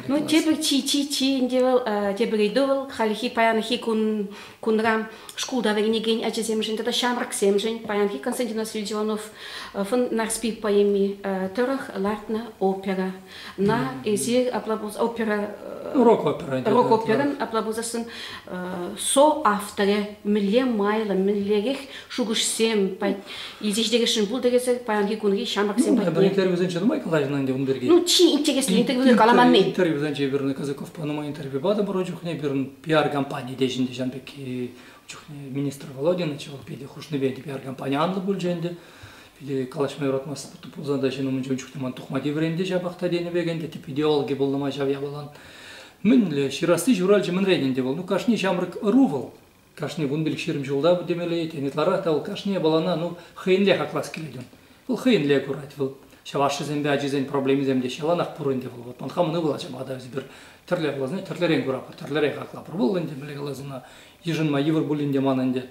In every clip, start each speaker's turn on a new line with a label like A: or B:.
A: Ну, тепӗр чи-чи-чи ӗнтӗ вӑл, тепӗр ыйту вӑл хальхи паянхи кун кунра шкулта вӗренекен ачасемшӗн тата ҫамрӑксемшӗн паянхи Константин Васильевич Иванов фон Нарспи поэми тӑрӑх лартнӑ опера. На, эсир апла пулсан опера рок опера рок операн апла пулсассӑн со авторе мӗнле майлӑ мӗнлерех шухӑшсем илсе ҫитересшӗн пултӑресӑр паянхи кунхи ҫамрӑксем патне. Пӗр интервьюсенче нумай
B: калаҫнӑ ӗнтӗ ун пирки. Ну чи интереслӗ
A: интервьюсем каламанни. Интервьюсенче пирӗн
B: Казаковпа нумай интервью патӑмӑр ун чухне пирӗн пиар компани те ҫӗнӗ ҫан пекки чухне министр Володин чӑваш питӗ хушнипе пиар компани анлӑ пулчӗ ӗнтӗ. Питӗ калаҫма юратмасть пулсан та ҫын умӗнче ун чухне ман тухма тиврен те ҫапах та тенӗ пек ӗнтӗ тӗп идеологи пулнӑ ман ҫав япалан. Мӗнле ҫырасси ҫуралчӗ мӗнрен ӗнтӗ вӑл? Ну кашни ҫамрӑк ӑру вӑл. Кашни вун пилӗк ҫирӗм ҫулта темелле этем ытларах та вӑл кашни япалана ну хӑйӗнле хаклас килет ун. Вӑл хӑйӗнле курать вӑл. Ҫав ашшӗсемпе ачисен проблемисем те ҫаланах пур ӗнтӗ вӑл. Вӑт ман хамӑн ывӑл ачам атав эсӗпӗр тӗрле каласна тӗрлӗрен куратпӑр, тӗрлӗрен хаклатпӑр. Вӑл ӗнтӗ мӗнле каласан йышӑнма йывӑр пулин те ман ӗнтӗ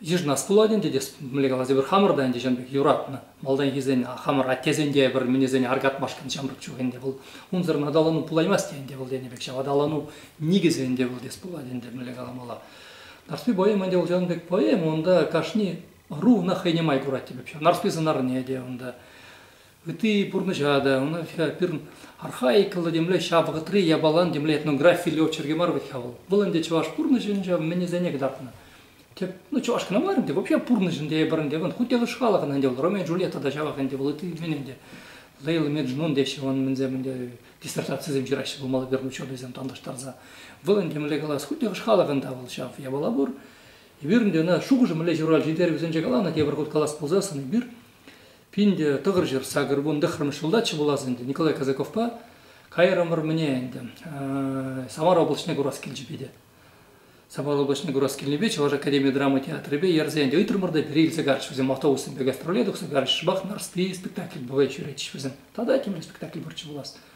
B: Йышӑнас пулать ӗнтӗ те мӗнле калас эпир хамӑр та ӗнтӗ ҫын пек юратнӑ малтанхисен хамӑр аттесенте пӗр мӗнесене аркатмашкӑн ҫамрӑк чух ӗнтӗ вӑл унсӑрӑн аталану пулаймасть те ӗнтӗ вӑл тенӗ пек ҫав аталану никӗсӗ ӗнтӗ вӑл тес пулать ӗнтӗ мӗнле каламалла Нарспи поэма ӗнтӗ вӑл ҫавӑн пек поэма унта кашни ӑру ӑна хӑйне май курать теп ҫав Нарспи сӑнарне те унта Ытти пурнӑҫа та, ӑна пирӗн архаикӑллӑ темле, ҫав вӑхӑтри япалан темле этнографи летчерки мар вӗт-ха вӑл. Вӑл ӗнтӗ чӑваш пурнӑҫӗн ҫав мӗнӗсене кӑтартнӑ. Тӗп, ну чӑваш кӑна мар ӗнтӗ, вообще пурнӑҫ ӗнтӗ эпӗр ӗнтӗ, вӑл хуть те хӑш халӑхӑн ӗнтӗ вӑл, Ромео и Джульетта та ҫавах ӗнтӗ вӑл, ытти мӗн ӗнтӗ, Лейл Меджнун теҫҫӗ вӑн мӗнсем ӗнтӗ, диссертацисем ҫыраҫҫӗ пулмалла пирӗн ученӑйсем танлаштарса. Вӑл ӗнтӗ мӗнле калас, хуть те хӑш халӑхӑн та вӑл ҫав япала пур. Эпир ӗнтӗ ӑна шухӑшӗ мӗнле ҫуралчӗ, ӳтерӗкӗсенче каланӑ тепӗр хут калас пулсассӑн, эпир Пин те тӑхӑр ҫӗр сакӑр вун тӑххӑрмӗш ҫултаччӗ пулас ӗнтӗ Николай Казаковпа. Кайрӑмӑр мӗне ӗнтӗ. Самар облаҫне курас килчӗ питӗ. Самар облаҫне курас килнипе Чӑваш академи драма театрӗпе ерсе ӗнтӗ ыйтрӑмӑр та пире илсе карчӗҫ вӗсем автобуссемпе гастроле тухса карчӗҫ. Шӑпах Нарспи спектакль бывает ҫӳретчӗҫ вӗсем. Тата темле спектакль пурччӗ пулас.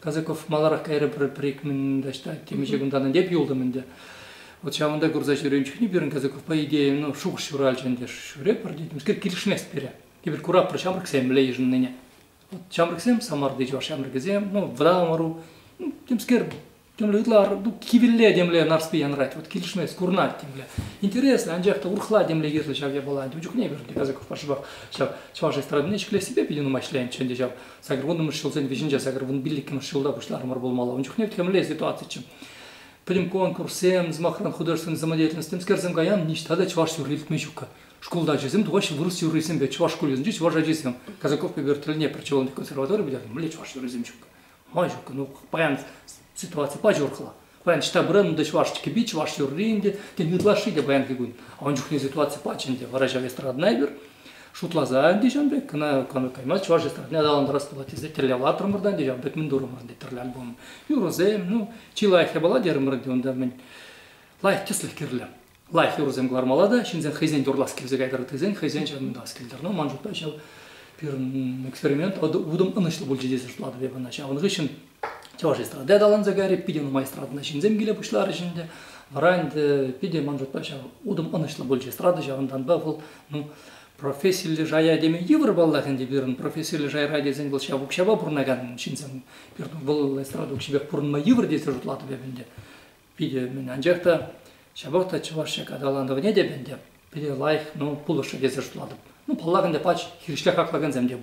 B: Казаков маларах кайрӗ пӗр-ик мӗн таҫта темиҫе кунтан ӗнтӗ эп юлтӑм ӗнтӗ. Вот ҫавӑнта курса ҫӳренӗ чухне пирӗн Казаковпа идея ну, шухӑш ҫуралчӗ ӗнтӗ. Ҫӳрепӗр тетӗмскер килӗшмест пире. Эпир куратпӑр ҫамрӑксем мӗнле йышӑннине. Вот ҫамрӑксем Самарти чӑваш ҫамрӑкӗсем ну, вӑтам ӑру ну, темскер темле ытлар ну, кивелле темле нарспи янрать. Вот килӗшмест, курӑнать темле. Интереслӗ, анчах та урӑхла темле йышлӑ ҫав япала. Ун чухне эпир Казаковпа шӑпах ҫав чӑваш эстрадине ҫӗклессипе питӗ нумай ӗҫленчӗ ӗнтӗ ҫав. Сакӑр вуннӑмӗш ҫулсен вӗҫӗнче сакӑр вун пиллӗкмӗш ҫулта пуҫларӑмӑр пулмалла. Ун чухне темле ситуациччӗ. Пӗтӗм конкурссем, сӑмахран, художественнӑй самодеятельность, темскерсем каян, ниҫта та чӑваш юрри илтме ҫук. Шкулта ачасем тухаҫҫӗ вырӑс юррисемпе, чӑваш шкулӗсенчи чӑваш ачисем. Казаков Петер тӗлне причевленный консерватори пӗтернӗ, мӗнле чӑваш юррисем ҫук? Ма ҫук? Ну, паян Ситуаци паҫӑрхла. Паян Ҫтапӑра ӗнтӗ чӑваш кӗпи, чӑваш юрри ӗнтӗ, тен, ытлашши те паянхи кун. А ун чухне ситуаци пачӗ ӗнтӗ, вара ҫав эстрадӑна эпир шутласа ӗнтӗ ҫавӑн пек кӑна каймасть чӑваш эстрадине аталантарас пулать тесе тӗрлевлатрӑмӑр та ӗнтӗ ҫавӑн пек мӗн турӑмӑр ӗнтӗ тӗрлӗ альбом. Юрӑсем, ну, чи лайӑх япала терӗмӗр ӗнтӗ унта мӗн лайӑх тӗслӗх кирлӗ. лайӑх юрӑсем кӑлармалла та ҫынсем хӑйсен юрлас килсе кайтар тесен хӑйсен ҫавӑнтас килтӗр. Ну, ман шутпа ҫав пирӗн эксперимент утӑм ӑнӑҫлӑ пулчӗ тесе шутлатӑп эп ӑна. Ҫавӑн хыҫҫӑн чӑваш эстради аталанса кайрӗ, питӗ нумай эстрадӑна ҫынсем киле пуҫларӗҫ ӗнтӗ. Вара ӗнтӗ питӗ, ман шутпа, ҫав утӑм ӑнӑҫлӑ пулчӗ эстрада. Ҫавӑнтанпа вӑл, ну, профессиллӗ шая теме йывӑр паллах ӗнтӗ пирӗн. Профессиллӗ шайра тесен вӑл ҫав укҫапа пурӑнакан ҫынсем. Пирӗн вӑл эстрада укҫипех пурӑнма йывӑр тесе шутлатӑп эп ӗнтӗ. питӗ мӗн анчах та ҫапах та чӑваш аталанӑвне те ӗнтӗ пире лайӑх ну пулӑшрӗ тесе шутлатӑп. Ну паллах ӗнтӗ пач хирӗҫле хаклакансем те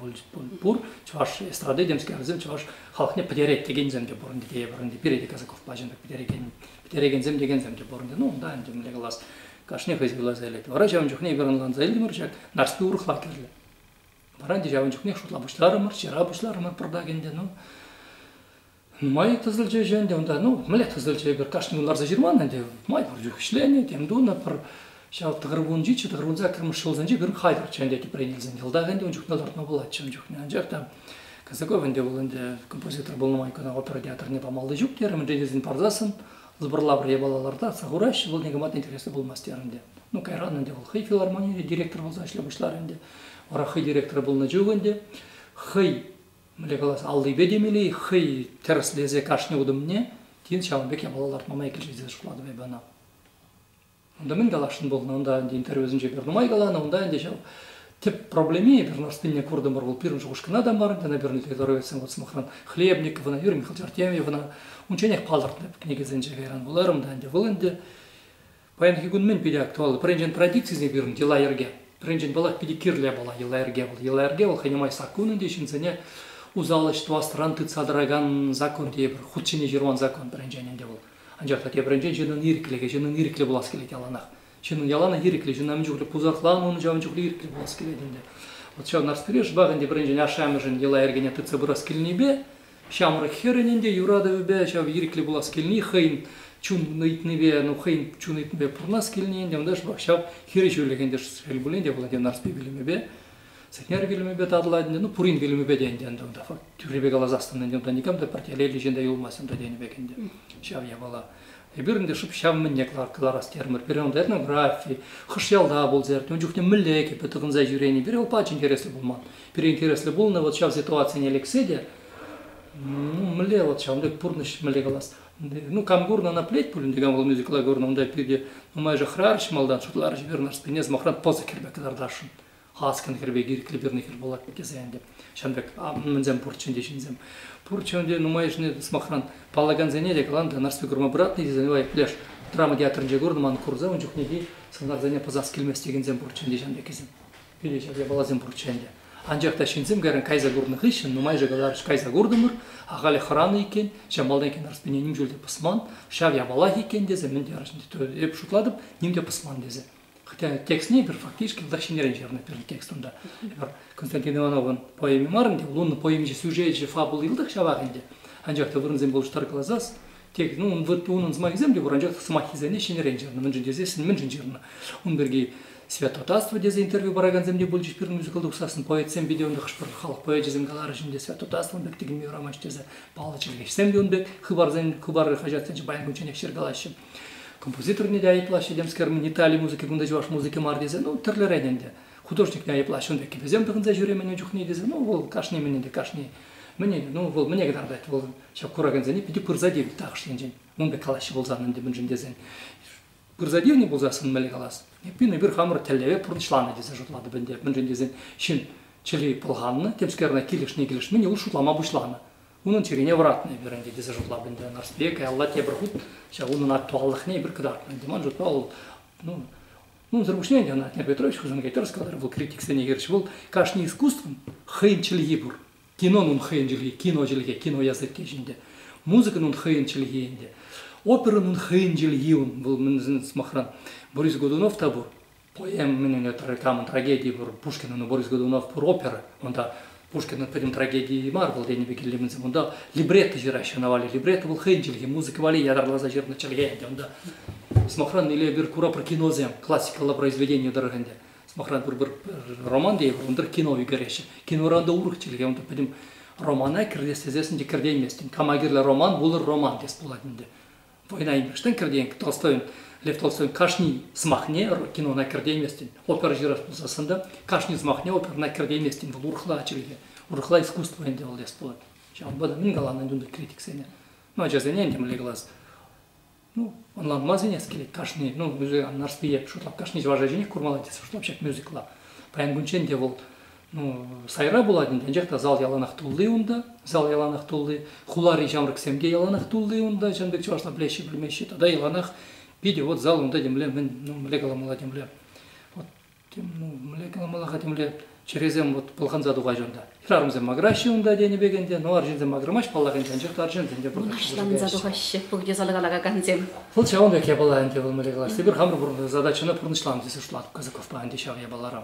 B: пур, чӑваш эстрады темскерсем чӑваш халӑхне пӗтерет текенсем те пур ӗнтӗ те пур ӗнтӗ пире те Казаков пачин пек пӗтерекен пӗтерекенсем текенсем те пур ӗнтӗ ну унта ӗнтӗ мӗнле калас кашни хӑй суйласа илет вара ҫавӑн чухне эпир ӑнланса илтӗмӗр ҫак нарспи урӑхла кирлӗ вара ӗнтӗ ҫавӑн чухне шутла пуҫларӑмӑр ҫыра пуҫларӑмӑр пӑртак ӗнтӗ ну Нумай тӑсӑлчӗ ӗҫе ӗнтӗ унта. Ну, мӗнле тӑсӑлчӗ? Эпир кашни ларса ҫырман ӗнтӗ. Май пур чух ӗҫленӗ, тем тунӑ. Пӗр ҫав тӑхӑр кунчиччӗ, тӑхӑр кун саккӑрмӗш ҫулсенче пирӗн хатӗрччӗ ӗнтӗ тӗпрен илсен. Йӑлтах ӗнтӗ ун чухне лартма пулатчӗ ун чухне. Анчах та Казаков ӗнтӗ вӑл ӗнтӗ композитор пулнӑ май кӑна опера театрне памалли ҫук терӗ. Мӗншӗн тесен парсассӑн сборлавра япала лартасса хураҫҫӗ, вӑл никама та интереслӗ пулмасть терӗ ӗнтӗ. Ну, кайран ӗнтӗ вӑл хӑй филармонире директор пулса ӗҫле пуҫларӗ ӗнтӗ. Вара хӑй директорӗ пулнӑ чух ӗнтӗ хӑй мӗнле калас аллипе темелле хӑй тӗрӗслесе кашни утӑмне тин ҫавӑн пек япала лартма май килчӗ тесе шутлатӑп эпӗ ӑна. Унта мӗн каласшӑн пулнӑ, унта ӗнтӗ интервьюсенче пӗр нумай каланӑ, унта ӗнтӗ ҫав тӗп проблеми пӗр нарспине куртӑмӑр, вӑл пирӗн шухӑшкӑна та мар, ӗнтӗ пирӗн литературоведсен вот сӑмахран Хлебниковӑна, Юрий Михаил Тертеевӑна, унчченех палӑртнӑ кӗнекесенче кайран вуларӑм та ӗнтӗ, вӑл ӗнтӗ Паянхи кун мӗн питӗ актуаллӑ? Пӗринчен традицисене пирӗн йӑла-йӗрке. Пӗринчен паллах питӗ кирлӗ япала йӑла-йӗрке вӑл. Йӑла-йӗрке вӑл хӑйне май саккун ӗнтӗ ҫынсене усал ӗҫ тӑвасран тытса тӑракан закон тейӗпӗр. Хут ҫине ҫырман закон пӗринчен ӗнтӗ вӑл. Анчах та тепринчен ҫыннӑн ирӗклӗхӗ, ҫыннӑн ирӗклӗ пулас килет яланах. Ҫыннӑн яланах ирӗклӗ, ҫынна мӗн чухлӗ пусахланӑ, ун ҫавӑн чухлӗ ирӗклӗ пулас килет ӗнтӗ. Вот ҫав Нарспире шӑпах ӗнтӗ пӗринчен ашшӗ-амӑшӗн йӑла-йӗркене тытса пырас килнипе Ҫамрӑк хӗрӗн ӗнтӗ юратӑвӗпе ҫав ирӗклӗ пулас килни хӑйӗн чун ыйтнипе, ну хӑйӗн чун ыйтнипе пурӑнас килни ӗнтӗ ӑнташпа ҫав хирӗҫӳлӗх ӗнтӗ шел пулин те вӑл ӗнтӗ Нарспи пӳлӗмӗпе, Сӗтнер пӳлӗмӗпе татӑлать ӗнтӗ, ну пурин пӳлӗмӗпе те ӗнтӗ ӗнтӗ унта факт тӳррипе каласассӑн ӗнтӗ унта никам та пӗртелеллӗ ҫын та юлмасть унта тенӗ пек ӗнтӗ ҫав япала. Эпир ӗнтӗ шӑп ҫав мӗнле кӑларас терӗмӗр. Пире унта этнографи, хӑш ялта пулса иртнӗ, ун чухне мӗнле кӗпе тӑхӑнса ҫӳренӗ, пире упач интереслӗ пулман. Пире интереслӗ пулнӑ вот ҫав ситуацине лексе те, ну, мӗнле вот ҫавӑн пек пурнӑҫ мӗнле калас. Ну, кам курнӑ, ӑна пӗлет пулин те, кам вӑл мюзикла курнӑ, унта питӗ нумай шӑхрарҫ малтан шутларӗҫ пирӗн ӑшсене, сӑмахран, пӑсӑк хӗрпе кӑтартасшӑн. Халскин хӗр пек ирӗклӗ пирӗн хӗр пулать тесе ӗнтӗ. Ҫавӑн пек мӗнсем пурччӗ ӗнтӗ ҫынсем. Пурччӗ ӗнтӗ нумайӑшне сӑмахран паллакансене те каланӑ Нарспи курма пыратнӑ тесе нумай пӗлеш драма театрӗнче курнӑ ман курса ун чухнехи сӑнарсене пӑсас килмест текенсем пурччӗ ӗнтӗ ҫавӑн пеккисем. Питӗ ҫак япаласем пурччӗ ӗнтӗ. Анчах та ҫынсем кайран кайса курнӑ хыҫҫӑн нумайӑшӗ каларӗҫ кайса куртӑмӑр, ахаль хӑранӑ иккен, ҫав малтанхи Нарспине ним чуль те пӑсман, ҫав япалах иккен тесе мӗн терӗҫ, эп шутлатӑп, ним те пӑсман тесе. Хотя текстне эпир фактически тата ҫӗнӗрен ҫырнӑ пӗр текстӑн та. Эпир Константин Ивановӑн поэми мар ӗнтӗ, вӑл унӑн поэминчи сюжечӗ, фабула илтӗх ҫавах ӗнтӗ. Анчах та вырӑнсем улӑштар каласас, текст, ну, унӑн сӑмахӗсем те пур, анчах сӑмаххисене ҫӗнӗрен ҫырнӑ. Мӗншӗн тесен мӗншӗн ҫырнӑ? Ун пирки Святотатство тесе интервью паракансем те пулчӗҫ пирӗн мюзикалта тухсассӑн. Поэтсем питӗ ӑнтӑ хӑш-пӗр халӑх поэчӗсем каларӗҫ ӗнтӗ, Святотатствӑн пек тӗкӗнме юрамасть тесе. Паллӑ чӗлхеҫсем те ун пек хыпарсен, хыпар хаҫатсенче паян кунчченех ҫыркалаҫҫӗ. Композиторне те айӑплаҫҫӗ, темскер Итали музыки кунта чӑваш музыки мар тесе, ну, тӗрлӗрен ӗнтӗ. Художникне айӑплаҫҫӗ ун пекки. Вӗсем тӑхӑнса ҫӳремен ун чухне тесе, ну, вӑл кашни мӗн ӗнтӗ, кашни мӗне, ну, вӑл мӗне кӑтартать, вӑл ҫак куракансене питӗ пырса тивнӗ тахӑш енчен. Ун пек калаҫҫӗ пулсан ӗнтӗ мӗншӗн тесен. Пырса тивнӗ пулсассӑн мӗнле калас? Эппин, эпир хамӑр тӗллеве пурнӑҫланӑ тесе шутлатӑп ӗнтӗ. Мӗншӗн тесен ҫын чӗри пӑлханнӑ, темскер ӑна килӗшни-килӗшмине ул шутлама пуҫланӑ. Унӑн чӗрине вӑратнӑ эпир ӗнтӗ тесе шутлап ӗнтӗ. Нарспие каялла тепӗр хут ҫав унӑн актуаллӑхне эпир кӑтартнӑ ӗнтӗ. Ман шутпа вӑл ну, унсӑр пуҫне ӗнтӗ ӑна Днепр Петрович Хусанкайтер сказал, вӑл критиксене хирӗҫ вӑл кашни искусствӑн хӑйӗн чӗлхи пур. Кинон ун хӑйӗн чӗлхи, кино чӗлхе, кино языкки ҫинче. Музыкӑн ун хӑйӗн чӗлхи ӗнтӗ. Оперӑн ун хӑйӗн чӗлхи ун, вӑл мӗн сӑмахран, Борис Годунов та пур. Поэм мӗнле камӑн трагеди пур Пушкинӑн Борис Годунов пур опера. Унта Пушкинӑн пӗтӗм трагедийӗ мар вӑл тенӗ пек илемӗнсем. Унта либретто ҫыраҫҫӗ на валли. Либретто вӑл хӑйӗн чӗлхи, музыка валли ятарласа ҫырнӑ чӗлхе ӗнтӗ унта. Сӑмахран, Илемир курапӑр киносем классикаллӑ произведени тӑрӑх ӗнтӗ. Сӑмахран, пӗр-пӗр роман тейӗпӗр, ун тӑрӑх кино ӳкереҫҫӗ. Киноран та урӑх чӗлхе. Унта пӗтӗм романа кӗртес тесессӗн те кӗртейместӗн. Кама кирлӗ роман, вулӑр роман тес пулать ӗнтӗ. Война имештен кӗртен Толстойӑн Лев Толстойӑн кашни сӑмахне кинона кӗртейместӗн, опера ҫырас пулсассӑн та кашни сӑмахне оперӑна кӗртейместӗн, вӑл урӑхла чӗлхе, урӑхла искусство ӗнтӗ вӑл тес пулать. Ҫавӑнпа та мӗн каланӑ ӗнтӗ унти критиксене? Ну, ачасене ӗнтӗ мӗнле калас? Ну, ӑнланма сӗнес килет кашни, ну, мюзикан Нарспие шутлап кашни чӑваш ачине курмалла тесен шутлап ҫак мюзикла. Паян кунччен те вӑл ну, сайра пулать ӗнтӗ, анчах та зал яланах тулли унта. Зал яланах тулли, хулари ҫамрӑксем те яланах тулли унта, чӑн пек чӑвашла пӗлеҫҫӗ, пӗлмеҫҫӗ. Тата яланах питӗ вот зал унта темле, мӗн, ну, мӗнле каламалла темле. Вот, тем, ну, мӗнле каламалла-ха темле, чӗресем вот пӑлханса тухаҫҫӗ унта. Хӗрарӑмсем макӑраҫҫӗ унта тенӗ пек ӗнтӗ, ну, арҫынсем макӑрамаҫ паллах ӗнтӗ, анчах та арҫынсем те пурнӑҫ Кашланса тухаҫҫӗ
A: пурте зала калакансем. Вӑл ҫавӑн пек япала
B: ӗнтӗ, вӑл мӗнле калас, эпир хамӑр пур задачӑна пурнӑҫланӑ
A: тесе
B: шутлатӑп Казаковпа
A: ӗнтӗ
B: ҫав япалара.